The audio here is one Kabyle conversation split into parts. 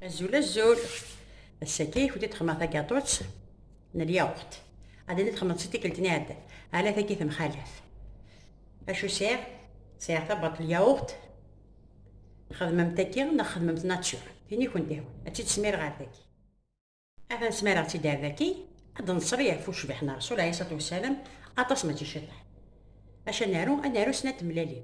Azul azul, ass-agi i kent-id xedmeɣ tagaṭut n lyawurt. Ad id xedmeɣ si tikkelt n iɛeddan, ala tagi temxalaf. Acu sɛiɣ? Sɛiɣ tabbaḍt n lyawurt, xedmemt tagi neɣ xedmemt nature, tin i kent-ihwan, ad tt-id-smireɣ ar dagi. Atan smireɣ-tt-id ar dagi, ad d-neṣli ɣef ucbiḥ n Ṛṛsul ɛlayhi ṣṣlatu wassalam, aṭas mačči ciṭuḥ. Acu ad naru? Ad naru snat tmellalin.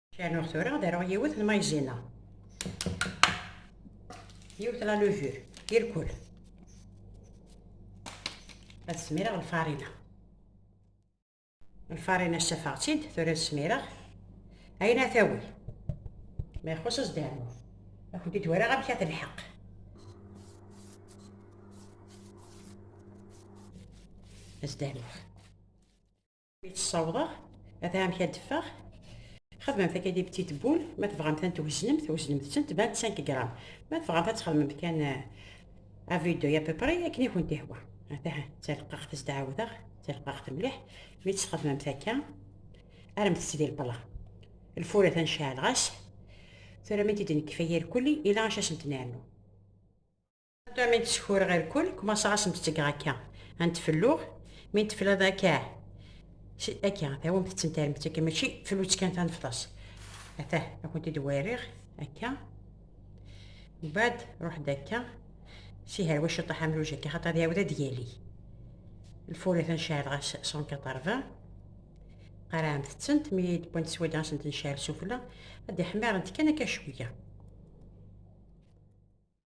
Ceɛnuɣ tura ad aruɣ yiwet n mayzina. Yiwet la levure, irkul. Ad smireɣ lfarina. Lfarina ssafaɣ-tt-id, tura smireɣ. Ayen ad tawi. Ma ixuṣ ad s-d-rnuɣ. Ad kent-id waraɣ amek ad telḥeq. Ad s-d-rnuɣ. ssawḍeɣ ad amek ad d-ffeɣ xedmemt akka di petit boul ma tebɣamt ad tweznemt weznemt-tent 25 gram ma tebɣamt ad txedmemt kan à vue d'œil à peu près akken i kent-ihwa atah d talqaɣt s d-ɛawdeɣ d talqaɣt mliḥ mi tt-txedmemt akka armet-tt di lpla lfur atan ceɛleɣ-as tura mi d-nekfa irkelli ila acu as-ntennernu Ata mi d-sekureɣ irkul, kmaṣeɣ ad sen-d-ttgeɣ akka. Ad n-tfelluɣ, mi n-tefliḍ akka, akka, tawamt d tentarmet akka, mačči flutt kan tanefḍas. Ata, ad kent-id-werriɣ, akka. Mbaɛd, ruḥ-d akka, si herwa ciṭaḥ amluj akka, xaṭer ad iɛawed ad d-yali. Lfur atan ceɛl ɣas 180, qarɛemt-tent, mi d-wwant swayda ad sent-nceɛl sufella, ad d-ḥmirent kan akka cwiya.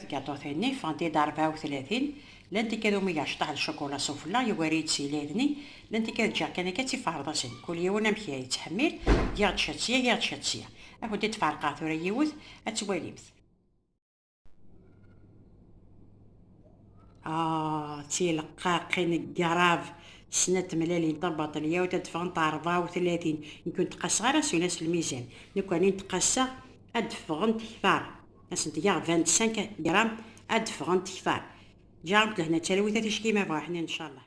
Tgaṭutin-nni ffɣent-id rebɛa u tlatin, llan tikkal umi geɣ ceṭṭaḥ d cukula sufella, yugar-iyi-d s yilirni, llan tikkal ǧǧiɣ kan akka d tiferḍasin, kul yiwen amek i yettḥemmil, giɣ-d ciṭ sya, giɣ-d ciṭ sya. Ad kent-id-ferqeɣ tura yiwet, ad twalimt. Ah, d tileqqaqin n grave, snat tmellalin tabaṭel, yawet ad d-ffɣent rebɛa u tlatin, nekk ur n-ttqaseɣ ara s ula s lmizan, nekkani n-ttqaseɣ ad d-ffɣent kter. Asent i aɣ-d-bant 5 gram ad d-ffɣent kteṛ. Ǧaɛent lehna d talwit a ticki ma bɣa ḥnin ncallah.